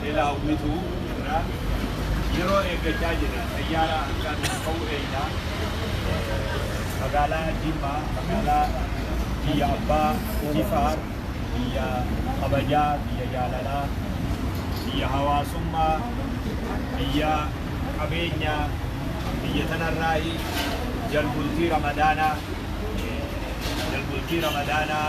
Beelaa Umituu irraa yeroo eeggachaa jirra. Xayyaara hangaa nuuf ka'u eegna. Magaalaa Jimmaa magaalaa biyya abbaa Jifaar, biyya kabajaa, biyya jaalalaa, biyya hawaasummaa, biyya qabeenyaa, biyya tanarraahi jalbultii Ramadaanaa jalbultii Ramadaanaa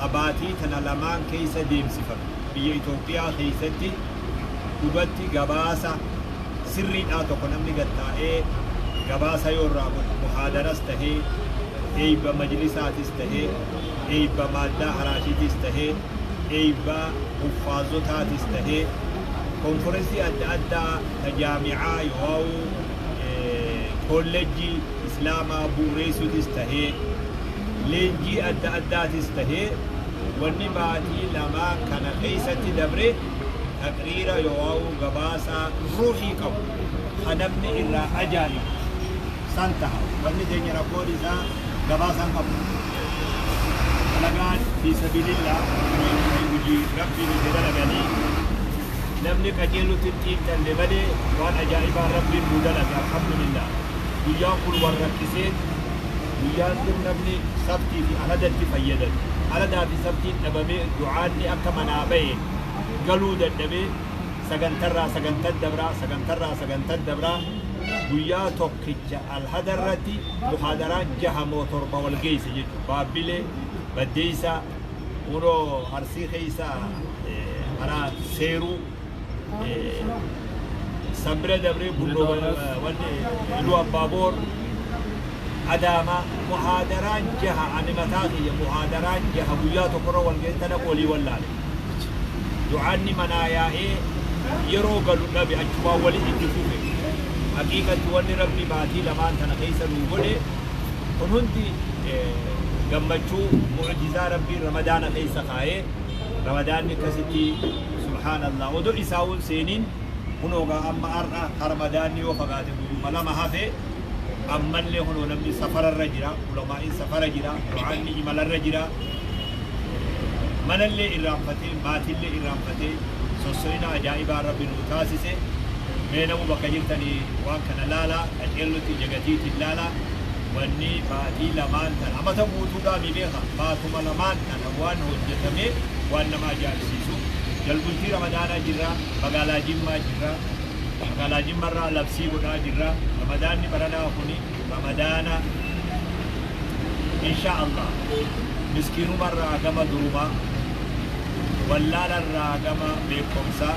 ka baatii tana lamaan keessa deemsifame biyya Itoophiyaa keessatti dhugatti gabaasa sirriidhaa tokko namni gad taa'ee gabaasa yoo irraa godhu muhaadaras tahee eeyba majlisaatis tahee eeyba maaldaa haraashiitis tahee eeyba huffaazotaatis tahee konferensii adda addaa ta jaamicaa yoowaa'uu kolleejjii Islaamaa bu'ureessuutis tahee leenjii adda addaatis tahee wanni baatii lamaan kana keessatti dabre taqriira yooauu gabaasa ruuhii qabu ka namni irraa ajaa'ibu san taha. Wanni teenya rakkoon isaa gabaasa hin qabnu. Dalagaan fii sabiilillah hujii Rabbiin itti dalaganii. Namni qajeelutti hin xiinxalle malee waan ajaa'ibaa Rabbiin nuu dalage alhamdulillah guyyaan kun wal rakkiseen guyyaan kun namni sabtii fi aladatti fayyadame aladaa fi sabtiin dhabamee du'aanni akka manaa bahe galuu dadhabee sagantarraa sagantan dabraa sagantarraa sagantan dabraa guyyaa tokkicha alhadarratti muhaadaraan jaha moo torba wal geeyse jechu baabbilee baddeeysaa Kunoo Arsii keessa karaa seeruu san bira dabree bulloo wanni iluu abbaaboor adaama muhaadaraan jaha ani mataa kiyya muhaadaraan jaha guyyaa tokkorra wal ga'e tana olii wallaale du'aanni manaa yaa'ee yeroo galu dhabe achumaan wali itti fufe haqiiqatti wanni rabbi maatii lamaan tana keessa nuu godhe Kun hundi gammachuu mu'ujizaa Rabbiin Ramadaana keessa kaayee Ramadaanni akkasitti subhaanallah odoo isaa'uu hin seeniin kunoo gaa amma har'a ka Ramadaanni yoo fagaate guyyuma lama hafe ammallee kunoo namni safara irra jira ulamaa'iin safara jira du'aanni imala irra jira manallee irraanfatee maatiillee irraanfatee sosso'ina ajaa'ibaa Rabbi nuu taasise mee namuu bakka jirtanii waan kana laalaa Dhaqeen nutti jagatiiti illaala wanni baatii lamaan tana amata guutuudhaa mii beeka baatuma lamaan tana waan hojjatamee waan nama ajaa'ibsiisu jalbultii ramadaanaa jirra magaalaa jimmaa jirra magaalaa jimmarraa labsii godhaa jirra ramadaanni baranaa kuni ramadaana inshaa allaah miskiinumarraa gama durumaa wallaalarraa gama beekkomsaa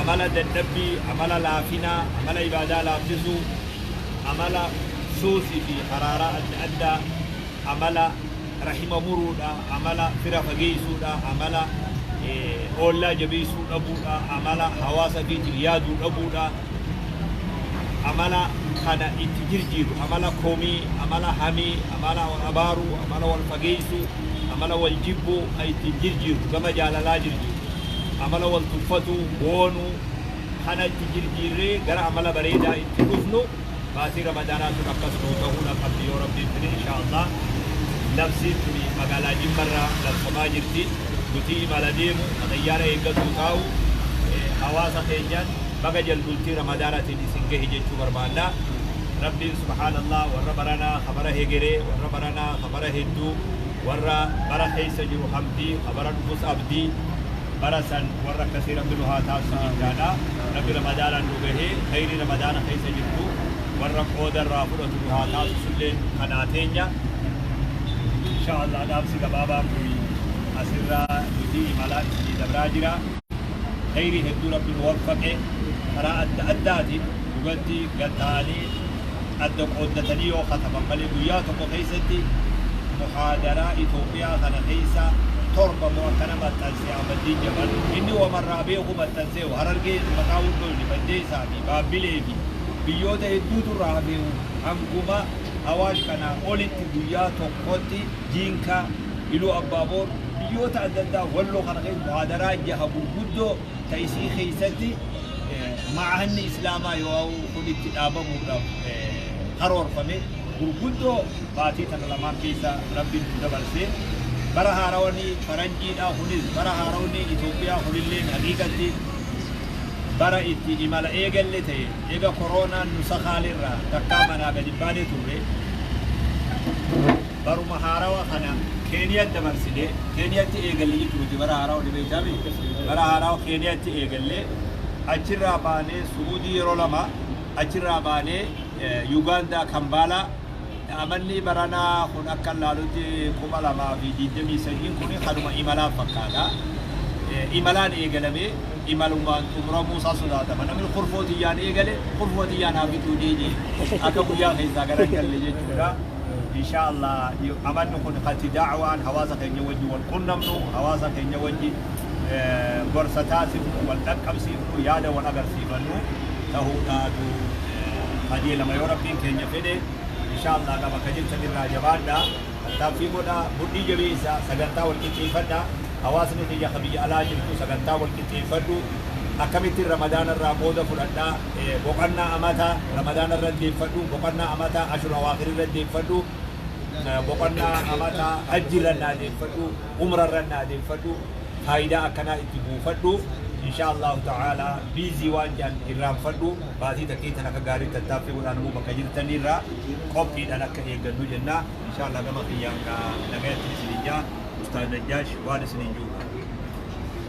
amala dadhabbii, amala laafinaa, amala ibaadaa laaffisuu, amala suusii fi haraaraa adda addaa, amala rahima muruudha, amala fira fageessuudha, amala oollaa jabeessuu dhabuudha, amala hawaasa fiitiif yaaduu dhabuudha, amala kana itti jirjiiru, amala komii, amala hamii, amala wal abaaruu, amala wal fageessuu, amala wal jibbuu kan ittiin jirjiiru, gama jaalalaa jirjiiru. amala wal tuffatuu, boonuu, kana itti jirjiirree gara amala bareedaa itti dhufnu baatii ramadaanaa tun akkas nuu tahuu na qabdi yoo rabbiin fide inshaa allah labsiin tuni magaalaa jimmarra labsamaa jirti nutii imala deemu ka xayyaara eeggatuu taa'u hawaasa keenyaan baga jalbultii ramadaanatiin isin gahe jechuu barbaanna rabbiin subhaanallah warra baranaa ka bara hegeree warra baranaa ka bara hedduu Warra bara keessa jiru habdii ka bara dhufus abdii bara san warra akkasii rabbi nu haa taasisu jechaadha rabbi ramadaanaan nu gahee kheeyrii ramadaana keessa jirtu warra qooda irraa fudhatu nu haa taasisu illeen kadhaa teenya inshaa allah dhaamsi gabaabaan kun as irra nuti imala isinii dabraa jira kheeyrii hedduu rabbi nu waffaqe karaa adda addaatiin dhugatti gad taa'anii adda qooddatanii yoo khataman malee guyyaa tokko keessatti muhaadaraa Itoophiyaa kana keessaa torba moo akkana maxxanse Ahmaddiin Jabal. Inni wama irraa beeku maxxanseeru. Harargee maqaa Wurdoyne, Baddeessaa fi Baabbilee fi biyyoota hedduutu irraa hafeeru hanguma Awaash kanaa olitti guyyaa tokkotti Jiinkaa, Iluu Abbaa Boor, biyyoota adda addaa Walloo kana keessa muhaadaraa jaha gurguddoo ta isii keessatti Ma'ahanni Islaamaa yoo'au kun itti dhaabamuudhaaf karoorfame gurguddoo baatii tana lamaan keessa Rabbiin nu dabarsee bara haarawni faranjiidhaa kunis bara haarawni Itoophiyaa kunilleen haqiiqatti bara itti imala eegalle ta'e eega koroonaan nu sakaalerraa takkaa manaa gadi hin baane turre. baruma haarawa kana Keeniyatti dabarsine, Keeniyatti eegalle jechu nuti bara haarawa ni beektaa mi? Bara haarawa Keeniyatti eegalle, achirraa baanee Su'uudii yeroo lama, achirraa baanee Yugaandaa Kambaalaa, amanni baranaa kun akka laalutti 2023 kun kanuma imalaa fakkaata. Imalaan eegalamee imalumaan xumuramuu isaa sodaatama. Namni kurfoo tiyyaan eegale kurfoo tiyyaan haa bituu deebi'e akka guyyaa keessaa gara hin galle jechuudha. Inshaa Allah amanni kun kan itti da'awaan hawaasa keenya wajji wal qunnamnu, hawaasa keenya wajji gorsa taasifnu, wal dhaqqabsiifnu, yaada wal agarsiifannu tahuudhaatu qajeelama yoo Rabbiin keenya fedhe. Inshaa Allah egaa bakka jirtan irraa jabaadhaa, tattaaffii godhaa, mudhii jabeessaa, sagantaa wal qixxeeffadhaa. Hawaasni kiyya ka biyya alaa jirtu sagantaa wal qixxeeffadhu. Akkamittiin Ramadaana irraa qooda fudhadhaa? Boqannaa Amataa Ramadaana irra deeffadhu, Boqannaa Amataa Ashur Awaakhir irra deeffadhu, Boqannaa Amataa Hajji irra naa deeffadhu, Umra irra naa deeffadhu, faayidaa akkanaa itti buufadhu, inshaa Allaahu ta'aalaa biizii waan jedhan irraanfadhu, baatii takkii tan akka gaariitti tattaaffii godhaa namuu bakka jirtan irraa qophiidhaan akka eeggannu jenna. Inshaa Allaah gama kiyyaan gaa nagayatti isiniin jedha. Ustaaz Najjaash waan isiniin jedhu qaba.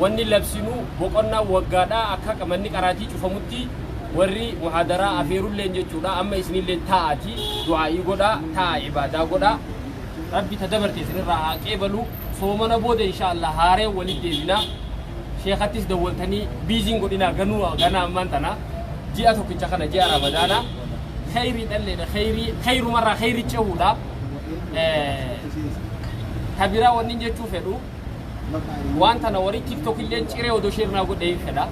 wanni labsinu boqonnaan waggaadha akka manni qaraatii cufamutti warri muhaadaraa afeerulleen jechuudha amma isinilleen taa'aati du'aa'ii godhaa taa'a ibaadaa godhaa rabbi ta dabarte isinirraa haa qeebalu soomana booda inshaallah haareen walitti deebina sheekattis dawwaltanii biiziin godhinaa ganuu ganaa ammaan tana ji'a tokkicha kana ji'a ramadaana kheyrii dhalleedha kheyrii kheyrumarraa kheyri cehuudha ta biraa wannin jechuu fedhu waan tana warri tiktok illeen ciree odoo sheer naa godhee hin fedha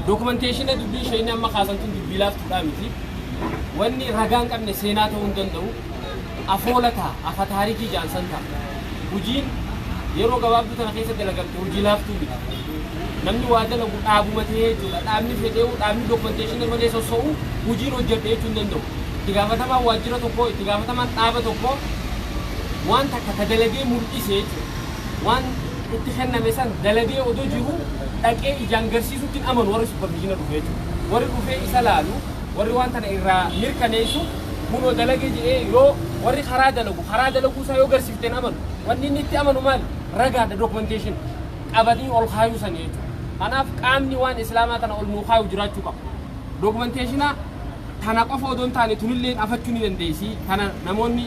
dokumenteeshina dubbii ishee inni amma kaasan tun dubbii laaftuudhaa miti wanni ragaan qabne seenaa ta'uu hin danda'u afoola ta'a afa taarikii jaansan ta'a hojiin yeroo gabaabduu tana keessa dalagamte hojii laaftuu miti Namni waa dalagu dhaabuma ta'ee jechuudha. Dhaabni fedhee'uu, dhaabni documentation malee sosso'u hojiin hojjedhe jechuu hin danda'u. Itti gaafatamaan waajjira tokkoo, itti gaafatamaan dhaaba tokkoo waan takka ka dalagee mul'ise jechuudha. Waan. itti kenname san dalagee odoo jiruu dhaqee ijaan garsiisutti hin amanu warri supervisiona dhufe jechuudha. Warri dhufee isa laalu, warri waan tana irraa mirkaneessu kunoo dalage je'ee yoo warri karaa dalagu karaa dalaguu isaa yoo garsiifte hin amanu. Wanni inni itti amanu maali? Ragaadha, documentation. qabanii ol kaayuu sani jechuudha. Kanaaf qaamni waan Islaamaa kana ol nuu kaayu jiraachuu qaba. Dokumenteeshina tana qofa odoo hin taane tunilleen afachuu ni dandeessi. Tana namoonni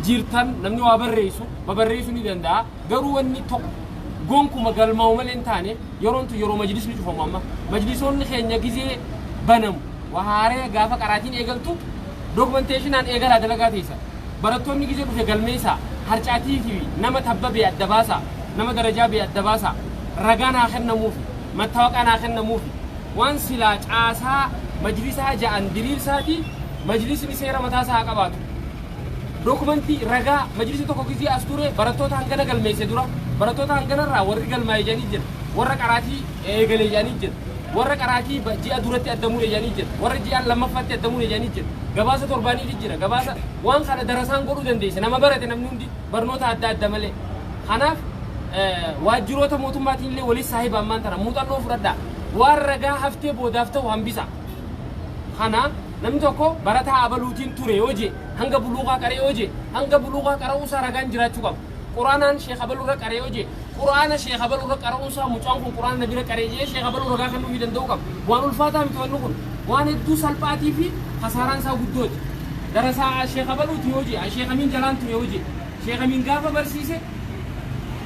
jirtan namni waa barreessu babarreessu ni danda'a. Garuu wanni tokko gonkuma galmaa'u malee hin taane yeroon tun yeroo majlisni cufamu amma. Majlisoonni keenya gizee banamu. Waa haaree gaafa qaraatiin eegaltu dokumenteeshinaan eegalaa dalagaa teessa. Barattoonni gizee dhufe galmeessaa. Harcaatii fi nama tabba bee adda baasaa. Nama darajaa bee adda baasaa. Ragaan haa kennamuufi. Mattawaqaan haa kennamuufi. Waan silaa caasaa majlisaa ja'an diriirsaati majlisni seera mataa isaa haa qabaatu. Dokumantii, ragaa, majlisni tokko gizee as ture barattoota hangana galmeesse dura. Barattoota hangana irraa warri galmaa'e ja'anii jira. Warra qaraatii. eegale jedhanii jiru. Warra qaraatii ba- ji'a duratti adda mure jedhanii jiru. Warra ji'aan lammaffaatti adda mure jedhanii jiru. Gabaasa torbaaniitu jira. Gabaasa waan kana darasaan godhuu dandeessa. Nama barate namni hundi barnoota adda adda malee. Kanaaf eh, waajjiroota mootummaatiin illee waliin saahiba ammaan tana muuxannoo fudhadhaa. Waan ragaa haftee boodaaf ta'u hambisa. kana namni tokko barataa abaluutiin ture yoo jee hanga buluuqaa qaree yoo jee hanga buluuqaa qara'uu isaa ragaan jiraachuu qaba. Quranaan sheekha balu irra qare yoo jee Qurana sheekha balu irra qara'uun isaa mucaan kun Qurana nabira qare jee sheekha balu ragaa kennuufi danda'uu qaba. Waan ulfaataa miti wanni kun. Waan hedduu salphaatii fi kasaaraan isaa guddooti. Darasaa a sheekha baluuti yoo jee a sheekha miin jalaan ture yoo jee sheekha miin gaafa barsiise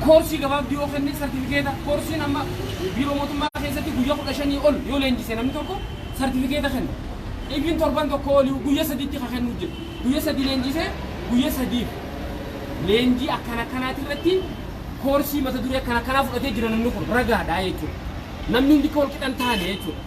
koorsii gabaabduu yoo kenne sartifikeeta koorsiin amma biiroo mootummaa keessatti guyyaa kudha shanii ol yoo leenjise namni tokko sartifikeeta kenna. Even torban tokko oliyu guyya sadiitti ka kennu jira. Guyya sadii leenjisee guyya sadiif. leenjii akkana akkanaati irratti koorsii mata duree akkana akkanaa fudhatee jira namni kun ragaadha jechuudha. Namni hundi akka wal qixa hin taane jechuudha.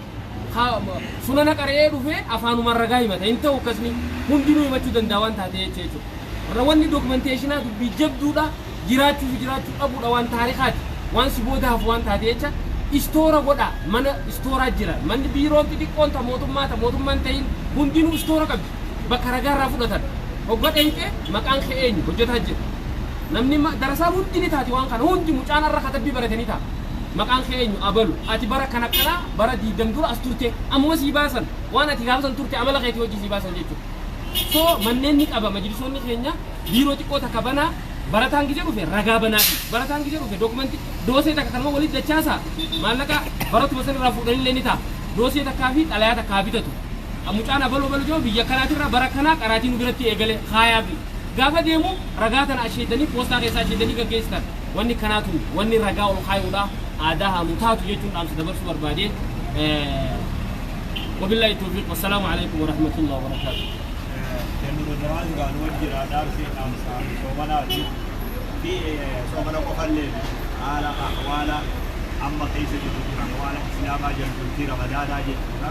Ha- Sunana qara'ee dhufee afaanumaan ragaa himata hin ta'u akkasni hundinuu himachuu danda'a waan taate jecha jechuudha. Warra wanni dokumenteeshinaa dubbii jabduudha jiraachuu fi jiraachuu dhabuudha waan taarikaati waan si booda hafu waan taate jecha istoora godha mana istooraa jira manni biiroon xixiqqoon ta mootummaa ta mootummaan ta'in hundinuu istoora qabdi. bakka ragaa irraa fudhatan hogga dheyxe maqaan kee eenyu hojjataa jedhe namni ma- darasaa hundi ni taati waan kana hundi mucaan arra katabbii barate ni ta'a maqaan kee eenyu abalu ati bara kan akkanaa bara diidam dura as turte ammuma sii baasan waan ati gaafa san turte amala keetii hojii sii baasan jechuudha so manneen ni qaba majlisoonni keenya biiroo xiqqoo takka banaa barataan gija dhufe ragaa banaafi barataan gija dhufe dookumanti doosee takka kanuma walitti dachaasa maallaqa baratuma san irraa fuudhanillee ni ta'a doosee takkaa fi xalayaa takkaa bitatu a Mucaan abaluu abaluu jedhamu biyya akkanaati irraa bara akkanaa qaraatii nu biratti eegale kaayaafi. Gaafa deemu ragaa tana asheetanii poostaa keessaa asheetanii gaggeessitan. Wanni akkanaa tun wanni ragaa ol kaayuudha aadaa haa nu taatu jechuun dhaamsa dabarsuu barbaade. Wabillaahi tawfiiq. Wassalaamu alaikum warahmatullahi wabarakaatuh. Kennuun duraan gaa nu wajjira dhaamsi dhaamsa soomanaati. Fi soomana qofallee haala ahwaala amma keessa jirru jira ahwaala islaamaa jalbultii ramadaanaa jechuudha.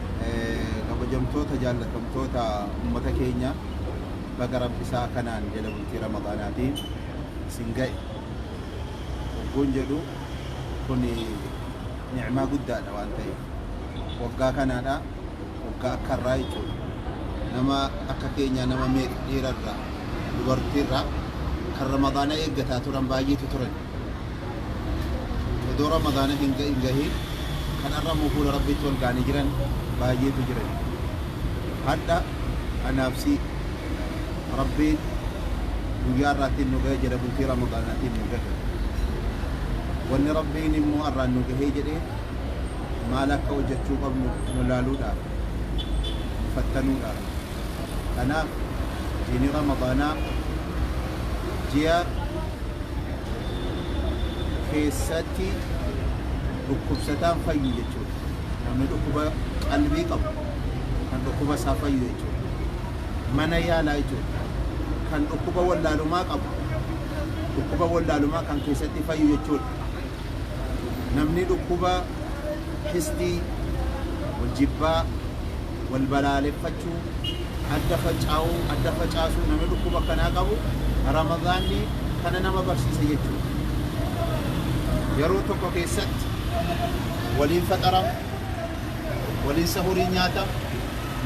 kabajamtoota jaallatamtoota ummata keenya baga rabbi isaa kanaan jala bultii ramadaanaatiin isin ga'e ogguun jedhu kun ni'maa guddaadha waan ta'eef waggaa kanaadha waggaa akka irraa jechuudha nama akka keenyaa nama meeqa dhiirarraa dubartiirraa kan ramadaana eeggataa turan baay'eetu turan odoo ramadaana hin gahin gahin kan arramuu fuula rabbiitti wal gaanii jiran baayyeetu jiran hadha anaaf si rabbiin guyyaa irraattiin nu gahe jedhe bultii ramadaanaatiin nu gahe wanni rabbiin immoo arraan nu gahee jedhe maal akka hojjechuu qabnu nu laaluudhaaf nu fattanuudhaaf Kanaaf jiini Ramadaanaa ji'a keessatti dhukkubsataan fayyu jechuudha. Namni dhukkuba qalbii qabu kan dhukkuba isaa fayyu jechuudha. Mana yaalaa jechuudha. Kan dhukkuba wallaalumaa qabu dhukkuba wallaalumaa kan keessatti fayyu jechuudha. Namni dhukkuba hisdii, wal jibbaa, wal balaaleffachuu, adda facaa'uu, adda facaasuu namni dhukkuba akkanaa qabu Ramadaanni kana nama barsiisa jechuudha. Yeroo tokko keessatti waliin faxarama, waliin sahurii nyaatama,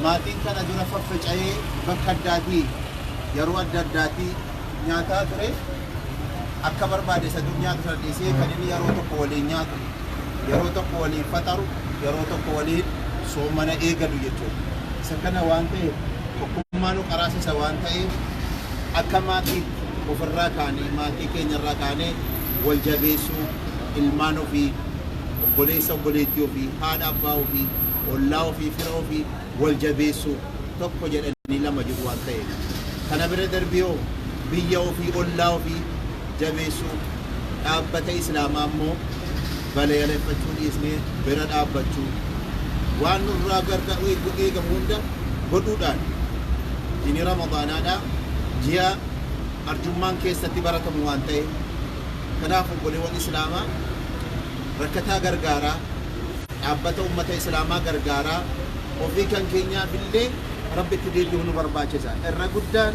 maatiin kana dura faffaca'ee bakka addaatii yeroo adda addaatii nyaataa ture akka barbaade isa dur nyaatu sana dhiisee kan inni yeroo tokko waliin nyaatu yeroo tokko waliin faxaru yeroo tokko waliin soomana eegadu jechuudha. Isa kana waan ta'eef tokkummaa nu qaraasisa waan ta'eef akka maatii ofirraa kaanee maatii keenyarraa kaanee wal jabeessuu ilmaan ofii obboleessa obboleettii ofii haadha abbaa ofii ollaa ofii fira ofii wal jabeessuu, tokko jedhanii lama jedhu waan ta'eef. Kana bira darbiihoo biyya ofii, ollaa ofii jabeessuu, dhaabbata Islaamaa immoo balayaleffachuu dhiisnee bira dhaabbachuu, waan nurraa gargaar eegamu hunda godhuudhaan jini Ramadaanaadhaa ji'a arjummaan keessatti baratamu waan ta'eef. Kanaaf obboleewwan Islaamaa rakkataa gargaaraa. dhaabbata ummata islaamaa gargaaraa ofii kan keenyaafillee Rabbitti deebi'uu nu barbaachisa. Irra guddaan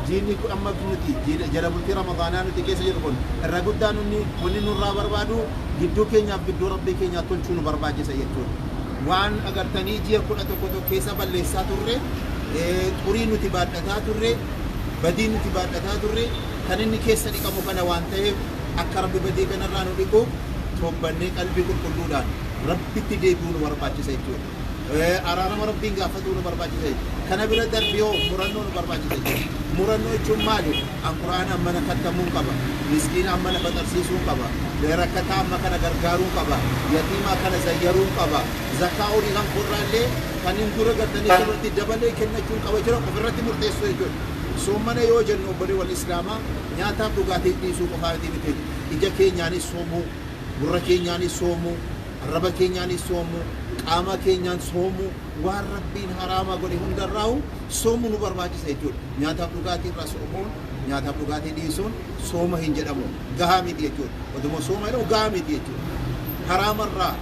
diinni kun amma nuti jala bultii Ramadaanaa nuti keessa jirru kun irra guddaan inni wanni nurraa barbaadu gidduu keenyaaf gidduu Rabbii keenyaa tolchuu nu barbaachisa jechuudha. Waan agartanii ji'a 11 tokko keessa balleessaa turre, xurii nuti baadhataa turre, badii nuti baadhataa turre kan inni keessa dhiqamu kana waan taheef akka Rabbi badii kanarraa nu dhiquuf, towbannee qalbii qulqulluudhaan Rabbitti deebi'uu nu barbaachisa jechuudha. Araarama Rabbiin gaafatuu nu barbaachisa jechuudha. Kana bira darbee hoo murannoo nu barbaachisa jechuudha. Murannoo jechuun maali? An Qur'aana ammana kattamuun qaba, miskiina ammana faxarsiisuun qaba, rakkataa amma kana gargaaruun qaba, yatiima akkana zayyaruun qaba, zakkaa horii kan koorraallee kanin dura gattanii irratti dabalee kennachuun qaba jira ofirratti murteessuu jechuudha. Soommana yoo jennu obboleewwan Islaamaa nyaataaf dhugaatii dhiisuu qofaa miti. ija keenyaanis soomuu, gurra keenyaanis soomuu, arraba keenyaanis soomuu, qaama keenyaan soomuu, waan Rabbiin haraama godhe hundarraahu soomu nu barbaachisa jechuudha. Nyaataaf dhugaatii irraa soomuun, nyaataaf dhugaatii dhiisuun sooma hin jedhamu. Gahaa miti jechuudha. Oduma sooma jedhamu gahaa miti jechuudha. Haraama irraa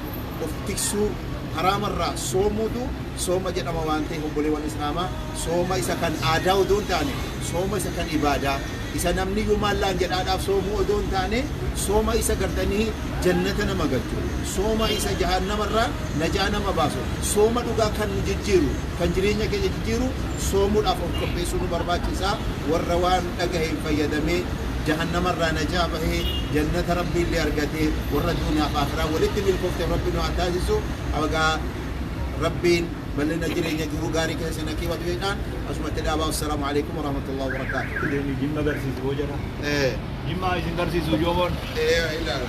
of tiksuu, haraama irraa soomuutu sooma jedhama waan ta'eef obboleewwan Islaamaa sooma isa kan aadaa odoo hin taane sooma isa kan ibaadaa, Isa namni iyyuu maal naan jedhaadhaaf soomuu odoo hin taane, sooma isa gartanii jannata nama galchu, sooma isa jahaannama irraa najaa nama baasu, sooma dhugaa kan nu jijjiiru, kan jireenya keenya jijjiiru soomuudhaaf of qopheessuu nu barbaachisa. Warra waan dhagaheen fayyadamee jahannama irraa najaa bahee, jannata Rabbii illee argate, warra duuniyaa fi aakhiraa walitti milkoofteef Rabbi nu haa taasisu. Egaa Rabbiin. Ballina jireenya jiruu gaarii keessa na kiwatu jedhaan asumatti dhaabaa wassalamu alaikum warahmatullahi wabarakatuh. Itti deemi jimma garsiisi boo jara. Ee. Jimma isin garsiisu joomon. Ee ilaala.